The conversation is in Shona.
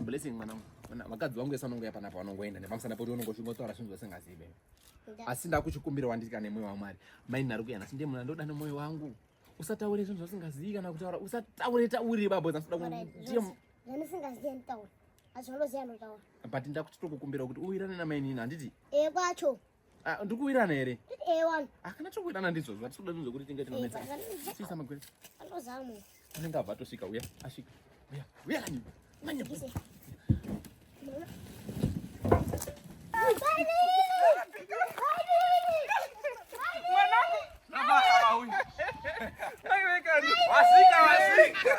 Blessing mwanangu. Mwana vakadzi vangu esa unongoya panapa vanongoenda nepamusana poti unongosvingotaura zvinhu zvose ngazive. Asi ndakuchikumbira wandika nemoyo waMwari. Mai nari kuyana sinde mwana ndoda nemoyo wangu. Usataure zvinhu zvasingazivi kana kutaura usataure tauri babo zanoda kuti zvamusingazivi nditaura. Azvinoziva ndotaura. But ndakuchitokukumbira kuti uwirane namainini handiti? Eh kwacho. Ah, ndikuwirana here akana chokuwirana ndizvo zvatikuda ndizvo kuti tinge tinonetsasisa magwere anenge abva atosvika uya asvika uya uya kani manya Wasika, wasika.